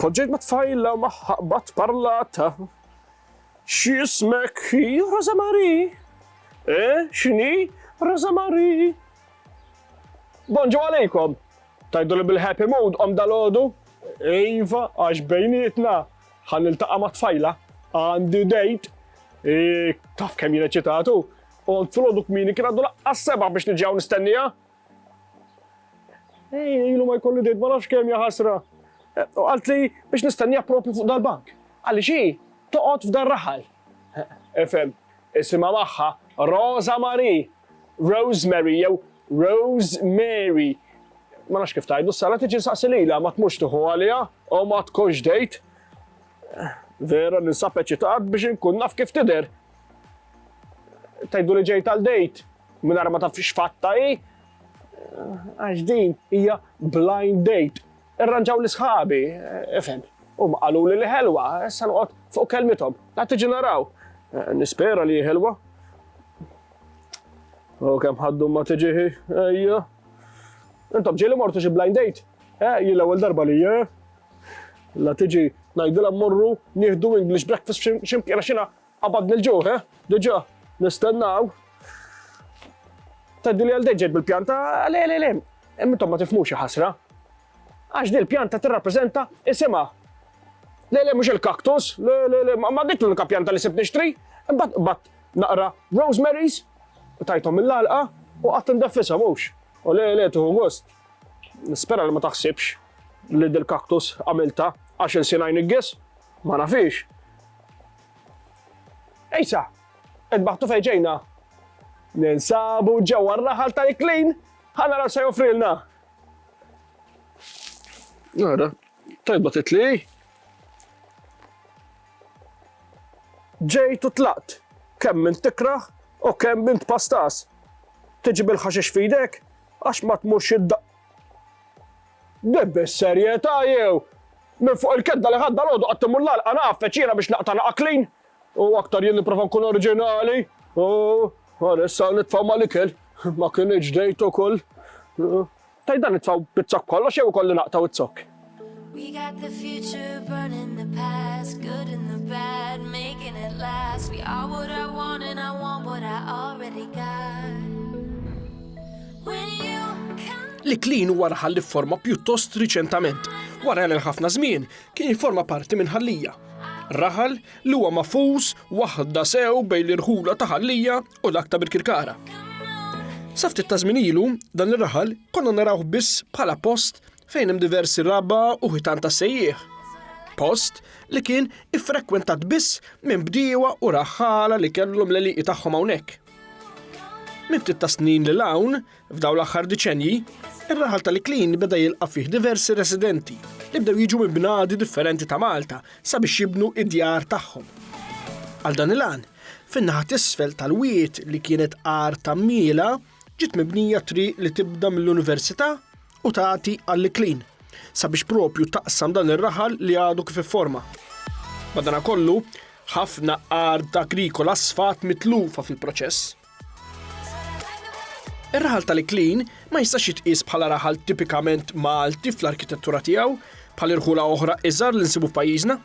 Poġġejt ma' tfajla magħha qbadt parlata, X'jismek? Hi Rosa Marie. Eh, x'inhi? Rosa Marie. Bonġu għalejkom! Tgħiduli bil-happy mood qomt dalgħodu? Iva, għax bejnietna ħa niltaqa' ma' tfajla, għandi date. Taf kemm jien eċitatu? Qomt filgħodu kmieni kien għadu laqqas seba' biex niġi hawn nistennieha. Ilu ma jkolli dejt ma nafx kemm ja ħasra. U qaltli biex nistenniha propju fuq dal-bank. Għaliex hi toqgħod f'dar raħal. Ifhem, isimha magħha Rosa Marie, Rosemary jew Rose Mary. Ma nafx kif tgħidu, s-sara tiġi nsaqsi lilha ma tmurx tieħu għaliha u ma tkunx dejt. Vera ninsab eċitat biex inkun naf kif tidher. Tgħidu li ġejt għal dejt mingħajr ma taf x'fatta hi. Għax din hija blind date. Irranġaw li sħabi, ifhem. U ma qalu li li ħelwa, issa noqgħod fuq kelmithom. La tiġi naraw. Nispera li ħelwa. U kemm ħaddu ma tiġi ejja. Intom ġieli mortu xi blind date? Eh, jien l-ewwel darba li eh? La tiġi ngħidilha mmorru nieħdu English breakfast f'xi mkien għax jiena qabadni l-ġuħ, eh? Diġà nistennaw. Tgħiddi li għal deġġed bil-pjanta, le le le, intom ma tifhmux xi ħasra. Għax din il-pjanta tirrappreżenta isimha. Le le mhux il-kaktus, le le le, ma dik l-unika pjanta li sibt nixtri, imbagħad naqra rosemaries, tajthom mill-għalqa u qatt indeffisha mhux. U le le tuħu gost. Nispera li ma taħsibx li dil-kaktus għamilta għax il-sina jniggis, ma nafix. Ejsa, qed baħtu fejġejna. Ninsabu ġewwa r-raħal tal-iklin, ħana raw se joffrilna. Nara, tajba titli. Ġejtu tlaqt, kemm minn tikraħ u kemm minn tpastas. Tiġi bil-ħaxix fidek, Għax ma tmurx id Din bis-serjetà jew? Minn fuq il-kedda li ħadd dalgħodu qatt imur l-għalqa ngħaffeġ jiena biex naqta' naqa' clean? U aktar jien nipprova nkun oriġinali. U ara issa nitfgħu mal-ikel. Ma kinitx dejt ukoll. Tgħid dan nitfgħu bizzokk kollox jew ikolli naqtgħu z-zokk? We got the future burning the past Good and the bad, making it last We are what I want and I want what I already got When you come Li klin huwa raħal li forma pjuttost riċentament, wara li ħafna żmien kien jiforma parti minn ħallija. Raħal li huwa mafus waħda sew bejn l-irħula ta' ħallija u dak ta' Birkirkara. Saftit ta' żmien ilu, dan ir-raħal konna narawh biss bħala post fejn hemm diversi raba' u ħitan ta' sejjieħ. Post li kien iffrekwentat biss minn bdiewa u raħħala li kellhom l-eliqi tagħhom hawnhekk. Minn ftit ta' snin lil hawn, f'daw l-aħħar diċenji, ir-raħal tal-Iklin beda jilqa' fih diversi residenti li bdew jiġu minn bnadi differenti ta' Malta sabiex jibnu id-djar tagħhom. Għal dan il-għan, fin-naħa t'isfel tal-wied li kienet għar ta' mmiela, ġiet mibnija triq li tibda mill-Università u tagħti għall-iklin sabiex propju taqsam dan ir-raħal li għadu kif ifforma. Madanakollu, ħafna art agrikola sfat mitlufa fil-proċess. Ir-raħal tal-iklin ma jistax jitqies bħala raħal tipikament Malti fl-arkitettura tiegħu, Bħal irħula oħra iżgħar li nsibu f'pajjiżna,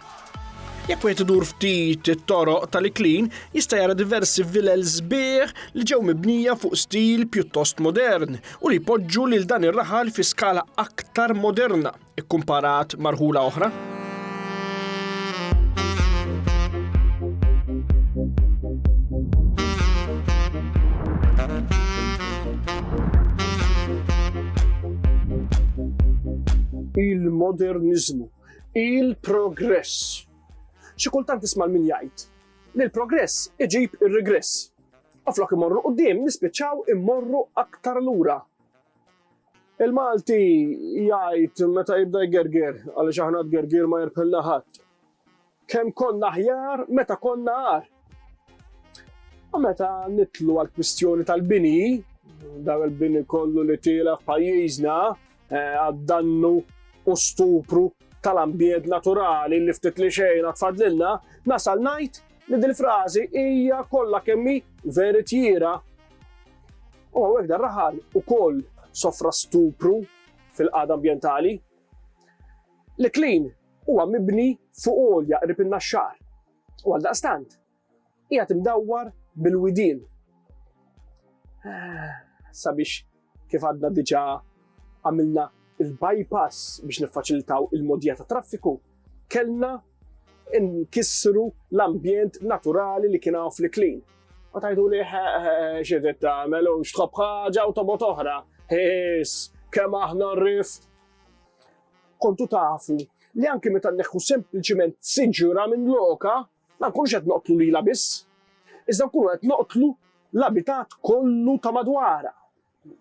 Jekk wieħed idur ftit it-toroq tal-Iklin, jista' jara diversi vilel sbieħ li ġew mibnija fuq stil pjuttost modern u li jpoġġu lil dan ir-raħal fi skala aktar moderna kkumparat marħula oħra. il-moderniżmu, il-progress. Xi kultant tisma' min jgħid li l-progress iġib ir-regress. U flok imorru qudiem nispiċċaw immorru aktar lura. Il-Malti jgħid meta jibda jgerger, għaliex aħna tgergir ma jirpilna ħadd. Kemm konna aħjar meta konna agħar. U meta nitlu għal kwistjoni tal-bini, dan il-bini kollu li tiela f'pajjiżna eh, għad-dannu u stupru tal-ambjent naturali li ftit li xejn tfadlilna, nasal ngħid li din frażi hija kollha kemmi veritjira. U għawek dar raħal ukoll sofra stupru fil-qada ambjentali. Li klin Huwa mibni fuq għolja qrib in-Naxxar u għaldaqstant qiegħed imdawwar bil-widien. Sabiex kif għadna diġà għamilna il-bypass biex niffaċilitaw il-modija ta' traffiku, kellna nkissru l-ambjent naturali li kien hawn fl-iklin. U tajdu li xidet tagħmel u xtħobb ħaġa u tobot oħra. His, kemm aħna rrif. Kontu tafu li anki meta nneħħu sempliċiment siġra minn lokha, ma nkunux qed noqtlu lilha biss, iżda nkunu qed noqtlu l-abitat kollu ta' madwarha.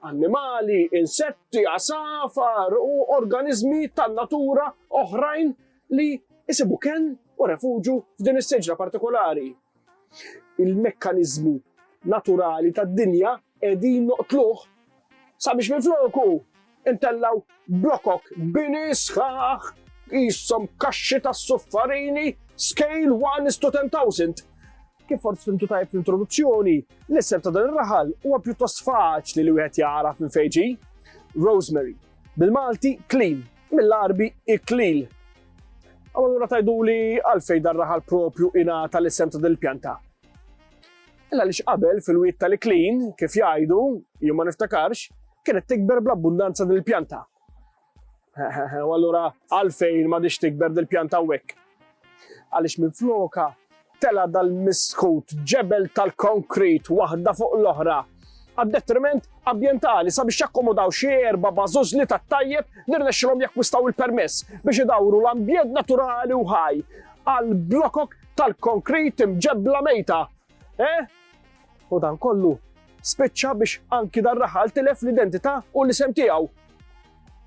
Annimali, insetti, għasafar u organiżmi tan-natura oħrajn li jsibu kenn u refuġju f'din is-siġra partikolari. il-mekkaniżmu naturali tad-dinja qegħdin noqtluh sabiex minfloku ntellgħu blokok bini sħaħ qishom kaxxi tas-suffarini scale 1 is to 10,000. Kif forsi fimtu tajb fl-introduzzjoni, l-isem ta' dan ir-raħal huwa pjuttost faċli li wieħed jagħraf minn fejn ġie. Rosemary, bil-Malti clean, Mill-Għarbi iklil. U allura tgħiduli għalfejn dan raħal propju ingħata l-isem ta' dil-pjanta. Illa li x'qabel fil-wiet tal-iklin, kif jgħidu, jien ma niftakarx, kienet tikber bl-abbundanza dil-pjanta. U allura għalfejn ma dix tikber dil-pjanta wek. Għaliex minn floka tela' dal-miskut ġebel tal-konkrit waħda fuq l-oħra għad-detriment ambjentali sabiex jakkomodaw xi erba' bażużli tat-tajjeb li rnexxilhom jakkwistaw il-permess biex idawru l-ambjent naturali u ħaj għal blokok tal-konkrit imġebbla mejta. Eh? U dan kollu spiċċa biex anki dar-raħal tilef l-identità u l-isem tiegħu.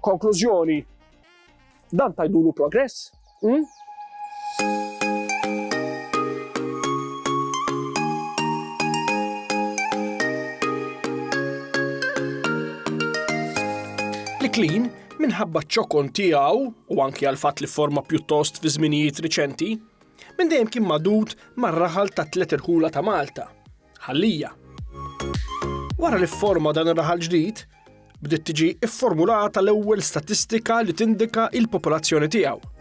Konklużjoni, Dan tajdulu progress? Hmm? L-iklin, minħabba ċokon tiegħu u anki għal fatt li forma pjuttost fi żminijiet riċenti, minn dejjem kien madud mar-raħal ta' tliet irħula ta' Malta, Ħallija. Wara li fforma dan ir-raħal ġdid, bdiet tiġi fformulata l-ewwel statistika li tindika il-popolazzjoni tiegħu.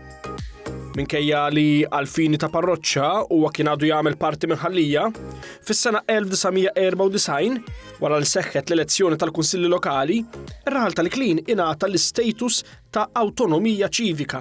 Minkejja li għalfini ta' parroċċa huwa kien għadu jagħmel parti minn ħallija, fis-sena 1994, wara li seħħet l-elezzjoni tal-Kunsilli Lokali, ir-raħal tal-Klin ingħata l-istatus ta' awtonomija ċivika.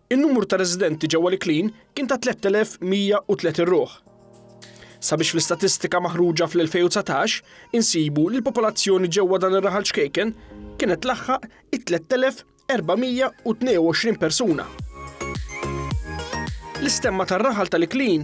In-numru ta' residenti ġewwa l-Iklin kien ta' 3,130 ruħ. Sabiex fl-istatistika maħruġa fl-2019 insibu li l-popolazzjoni ġewwa dan ir-raħal ċkejken kienet tlaħħaq it-3,422 persuna. L-istemma tar-raħal tal-Iklin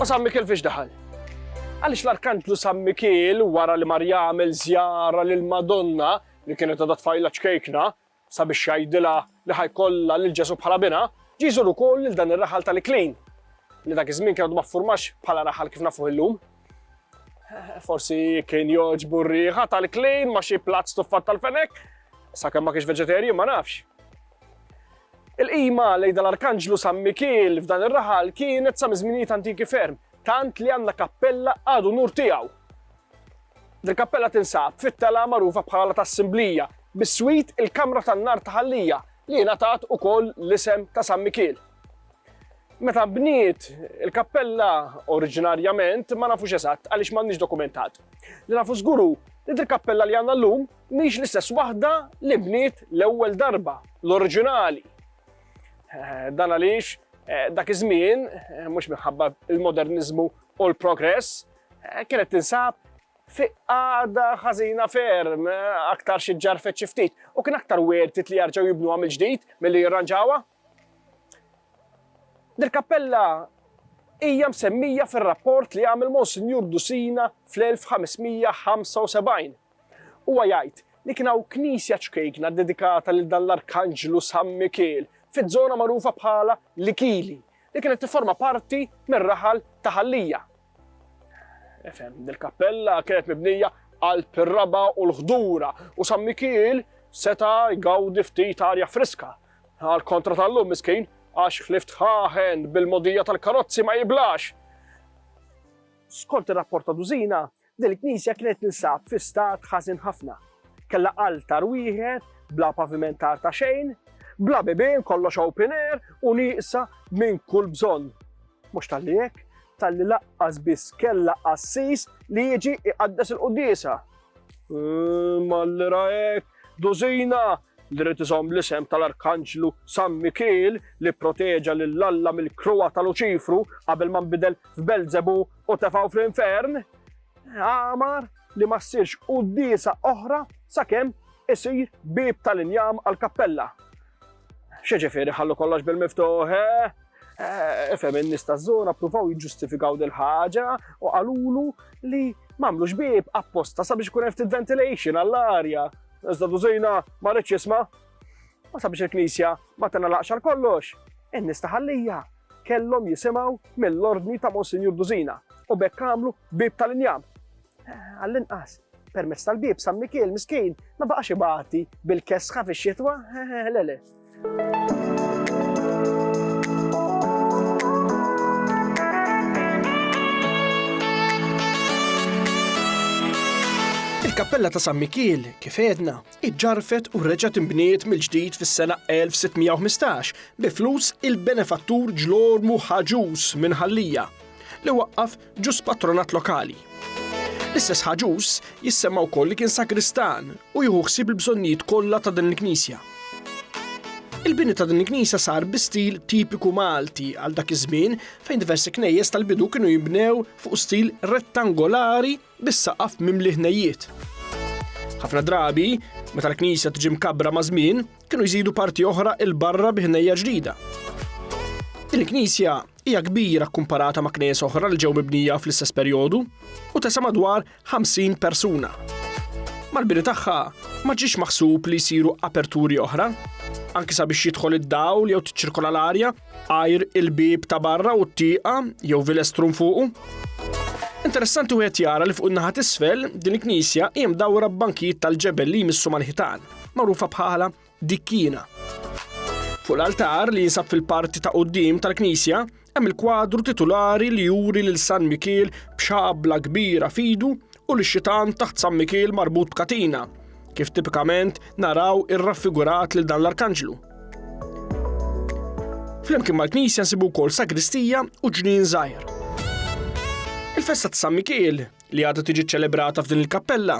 U San Mikil fiex daħal? Għaliex l-Arkantlu San Mikil wara li mar jagħmel żjara lil Madonna li kienet għadha tfajla ċkejkna, Sabiex jgħidilha li ħa jkollha lil Ġesù bħala binha, ġie jżur ukoll lil dan ir-raħal tal-Iklejn, li dak iż-żmien kien għadu ma ffurmax bħala raħal kif nafuh illum. Forsi kien jogħġbu r-riħa tal-Iklejn ma' xi platt stuffat tal-fenek, sakemm ma kienx veġeterju ma nafx. Il-qima lejda l-Arkanġlu San Mikiel f'dan ir-raħal kienet sa miżminijiet antiki ferm, tant li għandna kappella għadu nur tiegħu. Dil-kappella tinsab fit-telgħa magħrufa bħala La Tassimblija, biswit il-Kamra tan-Nar ta' Ħallija li ingħatat ukoll l-isem ta' San Mikiel. Meta nbniet il-kappella oriġinarjament ma nafux eżatt għaliex m'għandniex dokumentat. Li nafu żgur hu li dil-kappella li għandna llum mhix l-istess waħda li bniet l-ewwel darba, l-oriġinali. Eh, dan għaliex eh, dak iż-żmien, eh, mhux minħabba il-moderniżmu u l-progress, Kienet tinsab fi għada ħażina ferm, aktar xi ġarfet xi ftit, u kien aktar wertit li jarġgħu jibnuha mill-ġdid milli jirranġawha. Dil-kappella hija msemmija fir-rapport li għamel Monsinjur Dusina fl-1575 Huwa jgħid li kien hawn knisja ċkejkna ddedikata lil dan l-arkanġlu San Mikiel fiż-żona magħrufa bħala l-Ikili li kienet tifforma parti mir-raħal ta' Ħal-Lija. Efhem, dil-kappella kienet mibnija qalb ir-raba' u l-ħdura u San Mikiel seta' jgawdi ftit arja friska. Għal kontra tal-lum miskin għax ħlief tħaħen bil-mogħdija tal-karozzi ma jiblax. Skont ir-rapport ta' Dusina, Din il-knisja kienet tinsab fi stat ħażin ħafna. Kellha altar wieħed, bla pavimentar ta' xejn, bla bibien kollox open air u nieqsa minn kull bżonn. Mhux talli hekk, talli laqqas biss kellha qassis li jiġi iqaddes il-quddiesa. Ehm, Mallira hekk, dużina li rrid iżomm l-isem tal-Arkanġlu San Mikil li proteġa lil Alla mill-kruwa ta' Luċifru qabel ma nbidel f'Belzebu u tefgħu fl-infern, għamar li ma ssirx quddiesa oħra sakemm isir bib tal-injam għall-kappella. Xieġifieri ħallu kollox bil-miftuħ, eh? Eh, Efem in-nies taż-żona ppruvaw jiġġustifikaw dil ħaġa u qalulu li m'għamlux bib apposta sabiex ikun hemm ventilation għall-arja. Iżda dużina ma rridx jisma' u sabiex il-knisja ma tingħalaqx għal kollox. In-nies taħallija kellhom jisimgħu mill-ordni ta' Monsinjur Dużina u b'hekk għamlu bieb tal-injam. Għall-inqas, permezz tal-bieb San Mikiel miskin ma baqax ibati bil-kesħa fix-xitwa, lele. Il-kappella ta' San Mikiel, kif edna, iġġarfet u reġgħet inbniet mill-ġdid fis-sena 1615 bi flus il-benefattur Ġlormu Ħaġuż minn Ħal-Lija, li waqqaf ġus patronat lokali. L-istess Ħaġuż jissemma wkoll li kien sagristan u jieħu ħsieb il-bżonnijiet kollha ta' din il-knisja. Il-bini ta' din il-knisja sar bi stil tipiku Malti għal dak iż-żmien fejn diversi knejjes tal-bidu kienu jinbnew fuq stil rettangolari bis-saqaf mimli ħnejjiet. Ħafna drabi, meta l-knisja tiġi mkabbra maż-żmien, kienu jżidu parti oħra 'il barra bi ħnejja ġdida. Din il-knisja hija kbira kkumparata ma' knejjes oħra li ġew mibnija fl-istess perjodu u tesa' madwar 50 persuna. Mal-bini tagħha ma ġiex maħsub li jsiru aperturi oħra, anki sabiex jidħol id-dawl jew tiċċirkola l-arja, Għajr il-bib ta' barra u t-tieqa jew vilestrum fuqu. Interessanti wieħed jara li fuq in-naħa t'isfel din il-knisja hija mdawra b'bankijiet tal-ġebel li jmissu mal-ħitan, magħrufa bħala dikkina. Fuq l-altar li jinsab fil-parti ta' qudiem tal-knisja hemm il-kwadru titulari li juri lil San Mikiel b'xabla kbira fidu u lix-xitan taħt San Mikiel marbut b'katina, kif tipikament naraw irraffigurat lil dan l-arkanġlu. Flimkien mal-knisja nsibu wkoll sagristija u ġnien żgħir. Il-festa ta' San Mikiel, li għadha tiġi ċċelebrata f'din il-kappella,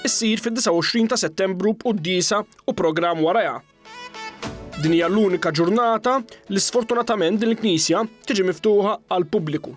issir fid-29 ta' Settembru b'quddisa u programm warajha. Din hija l-unika ġurnata li sfortunatament din il-knisja tiġi miftuħa għal pubbliku.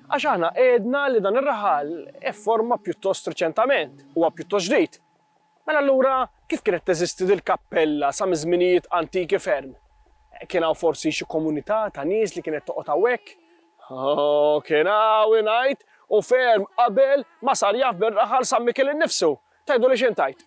Għax aħna għedna li dan ir-raħal ifforma pjuttost riċentament, huwa pjuttost ġdid. Mela allura kif kienet teżisti dil-kappella sa miż-żminijiet antiki ferm? Kien hawn forsi xi komunità ta' nies li kienet toqgħod hawnhekk? Oh, kien hawn ingħid, u ferm qabel ma sar jaf bir-raħal San Mikiel innifsu. Tgħiduli x'int għid?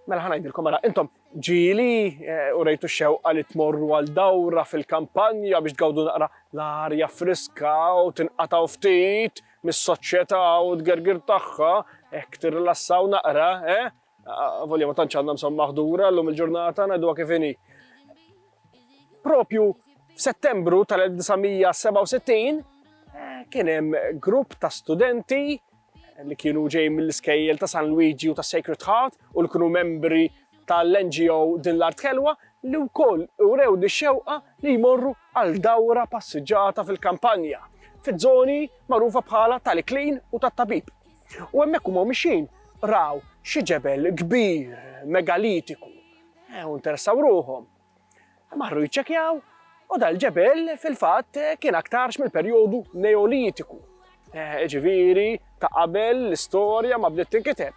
Mela ħa ngħidilkom ara, intom ġieli eh, u rejtu xewqa li tmorru għal dawra fil-kampanja biex tgawdu naqra l-arja friska u tinqataw ftit mis-soċjetà u t-gergir tagħha, hekk tirrilassaw naqra, eh? Ah, volja ma tantx għandna msom maħdura llum il-ġurnata ngħidu kif inhi. Propju f'Settembru tal-1967 eh, kien hemm grupp ta' studenti li kienu ġej mill-iskejjel ta' San Luigi u ta' Sacred Heart u li kienu membri tal-NGO Din l-Art Ħelwa li wkoll urew dix-xewqa li jmorru għal dawra passiġġata fil-kampanja, fiż-żoni magħrufa bħala tal-Iklin u tat-Tabib. U hemmhekk huma mixjin raw xi ġebel kbir megalitiku u interessaw ruħhom Marru jiċċekjaw u dal-ġebel fil-fatt kien aktarx mill-perjodu Neolitiku. Eh, ġiviri, ta' qabel l-istorja ma bdiet tinkiteb.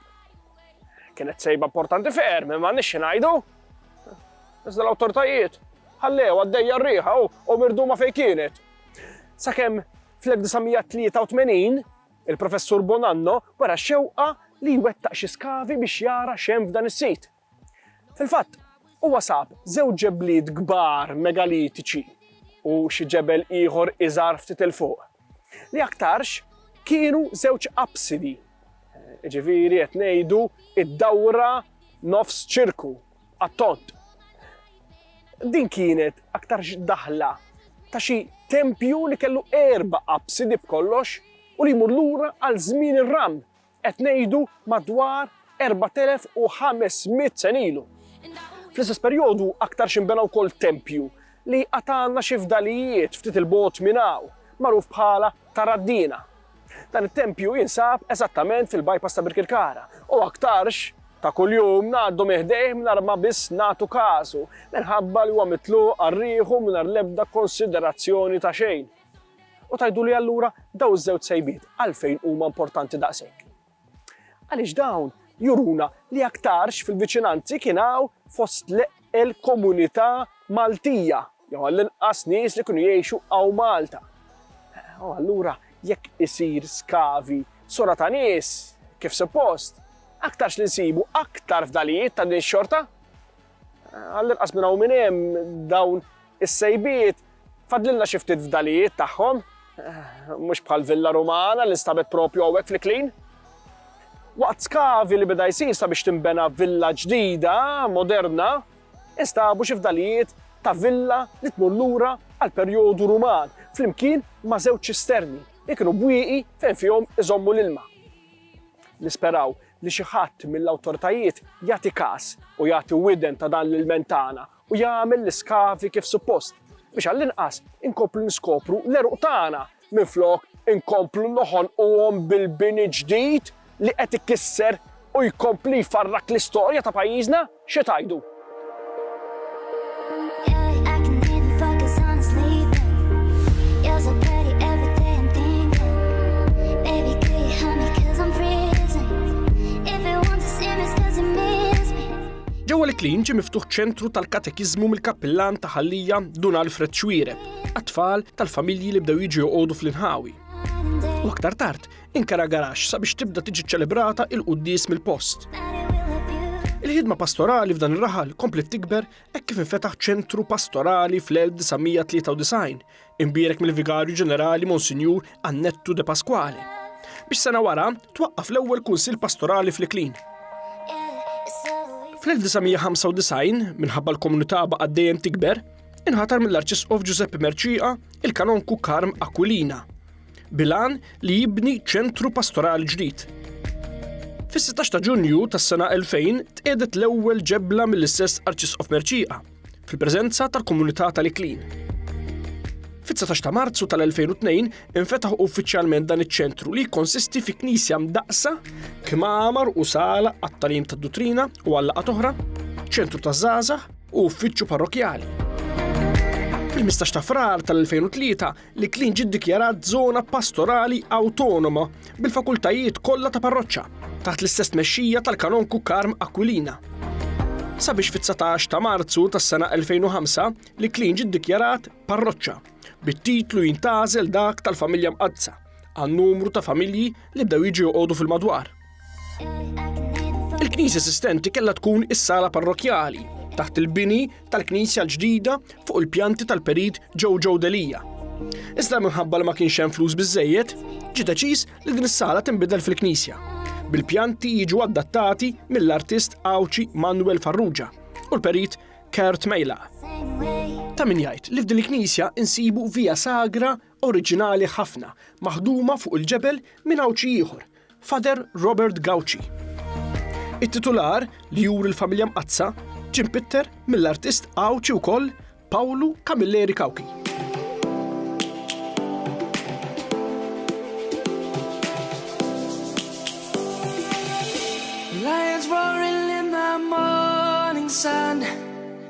Kienet sejba importanti ferm, ma nix ngħidu. Iżda l-awtoritajiet ħallew għaddejja r-riħa u mirdu ma fej kienet. Sakemm fl-1983 il-professur Bonanno wara xewqa li jwettaq xi skavi biex jara xem f'dan is-sit. Fil-fatt, huwa sab żewġ ġebliet kbar megalitiċi u xi ġebel ieħor iżgħar ftit 'il fuq, li aktarx kienu żewġ apsidi, jiġifieri qed ngħidu d-dawra nofs ċirku għat-tond. Din kienet aktarx daħla ta' xi tempju li kellu erba' apsidi b'kollox u li jmur lura għal żmien ir-Ram Qed ngħidu madwar 4,500 sen ilu. Fl-istess perjodu aktarx inbena wkoll tempju li għad għandna xi fdalijiet ftit 'il bogħod minn hawn, magħruf bħala ta' Raddina. Dan it-tempju jinsab eżattament fil-bypass ta' Birkirkara u aktarx ta' kuljum ngħaddu minn ħdejh mingħajr ma biss nagħtu każu minħabba li huwa mitluq għal rieħu mingħajr l-ebda konsiderazzjoni ta' xejn. U tgħiduli allura dawn iż-żewġ sejbiet għalfejn huma importanti daqshekk? Għaliex dawn juruna li aktarx fil-viċinanzi kien hawn fost il-komunità Maltija, jew għall-inqas nies li kienu jgħixu hawn Malta. U allura jekk isir skavi sura ta' nies kif suppost, aktarx li nsibu aktar fdalijiet ta' din xorta. Għall-inqas minn hawn minn hemm dawn is-sejbiet fadlilna xi ftit fdalijiet tagħhom, mhux bħal Villa Rumana li nstabet propju hawnhekk fl-Iklin. Waqt skavi li beda jsir sabiex tinbena villa ġdida, moderna, instabu xi fdalijiet ta' villa li tmur lura għal perjodu Ruman, flimkien ma' żewġ ċisterni li kienu bwieqi fejn fihom iżommu l-ilma. Nisperaw li xi ħadd mill-awtoritajiet jagħti kas u jagħti widen ta' dan l-ilment tagħna u jagħmel l-iskavi kif suppost, biex għall-inqas inkomplu niskopru l-għeruq tagħna minflok inkomplu noħonquhom bil-bini ġdid li qed ikisser u jkompli jfarrak l-istorja ta' pajjiżna. Xi tgħidu? Ġewwa l-Klin ġie miftuħ ċentru tal-katekiżmu mill-kappillan ta' Ħallija Dun Alfred Xwiereb għat-tfal tal-familji li bdew jiġu joqogħdu fl-inħawi. U aktar tard, Inkara garax sabiex tibda tiġi ċelebrata il-quddies mill-post. Il-ħidma pastorali f'dan ir-raħal komplet tikber hekk kif infetaħ ċentru pastorali fl-1993, imbierek mill-Vigarju Ġenerali Monsinjur Annettu de Pasquale. Biex sena wara, twaqqaf l-ewwel kunsil pastorali fl-Iklin. Fl-1995, minħabba l-komunità baqgħet dejjem tikber, inħatar mill-Arċisqof Giuseppe Merċiqa il-Kanonku Karm Aquilina. bil-għan li jibni ċentru pastorali ġdid. Fis-16 ta' Ġunju tas-sena 2000 tqiedet l-ewwel ġebla mill-istess Arċisqof Merċieqa fil-preżenza tal-komunità tal-Iklin. Fit-19 ta' Marzu tal-2002 infetaħ uffiċjalment dan iċ-ċentru li jikkonsisti fi knisja mdaqsa, kmamar u sala għat-talim tad-duttrina u għallaqat oħra, ċentru ta' żgħażagħ u uffiċċju parrokjali. Fil-15 ta' frar tal-2003 li Klin ġiet dikjarat żona pastorali awtonoma bil-fakultajiet kollha ta' parroċċa taħt l-istess tmexxija tal-Kanonku Karm Aquilina. Sabiex fit-19 ta' Marzu tas-sena 2005 li Klin ġiet dikjarat parroċċa bit-titlu jintgħażel dak tal-Familja Mqaddsa għan-numru ta' familji li bdew jiġu joqogħdu fil-madwar. Il-knisja esistenti kellha tkun is-sala parrokjali taħt il-bini tal-knisja l-ġdida fuq il-pjanti tal-perit ġew ġew delija. Iżda minħabba li ma kienx hemm flus biżejjed, ġie deċiż li din is-sala tinbidel fil-knisja. Bil-pjanti jiġu adattati mill-artist Awċi Manuel Farrugia u l-perit Kurt Mejla. Ta' min jgħid li f'din il-knisja insibu via sagra oriġinali ħafna maħduma fuq il-ġebel minn Għawdxi ieħor, Father Robert Gauci. It-titular, li juri l-familja Mqaddsa, ġie mpitter mill-artist Għawdxi wkoll Pawlu Camilleri Cauchi.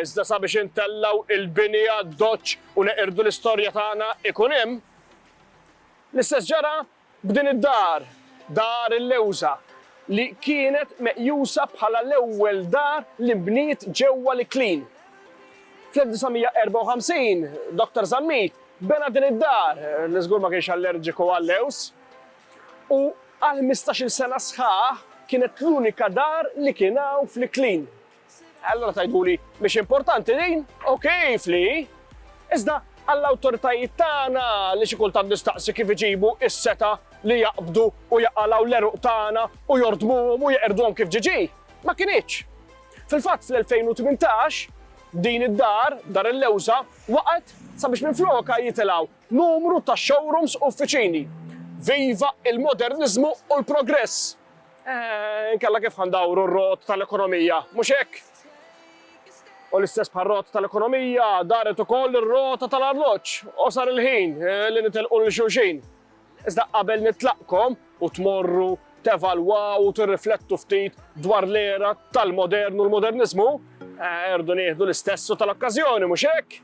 Iżda sabiex intellgħu l-bini għad-doċċ u neqirdu l-istorja tagħna ikun hemm. L-istess ġara b'din id-dar, Dar il-Lewża, li kienet meqjusa bħala l-ewwel dar li nbniet ġewwa l-Iklin. Fl-1954, Dr. Zammit bena din id-dar, li żgur ma kienx allerġiku għal-lewż, u għal ħmistax-il sena sħaħ kienet l-unika dar li kien hawn fl-Iklin. Allura tgħiduli mhix importanti din, u kif li hi? Iżda għall-awtoritajiet tagħna li xi kultant nistaqsi kif iġibu s-seta' li jaqbdu u jaqalgħu l-għeruq tagħna u jordmuhom u jeqirduhom kif ġiġi, ma kinitx. Fil-fatt fl-2018 din id-dar, Dar il-Lewża, waqgħet sabiex minflokha jitilgħu numru ta' showrooms u uffiċini. Viva il-moderniżmu u l-progress! Inkella kif ħa ndawru r-rot tal-ekonomija, mhux hekk? U l-istess bħar-rot tal-ekonomija, daret ukoll ir-rota tal-arloġġ u sar il-ħin li nitilqu lil xulxin. Iżda qabel nitlaqkom u tmorru tevalwaw u tirriflettu ftit dwar l-era tal-modern u l-moderniżmu, irdu nieħdu l-istess u tal-okkażjoni, mhux hekk?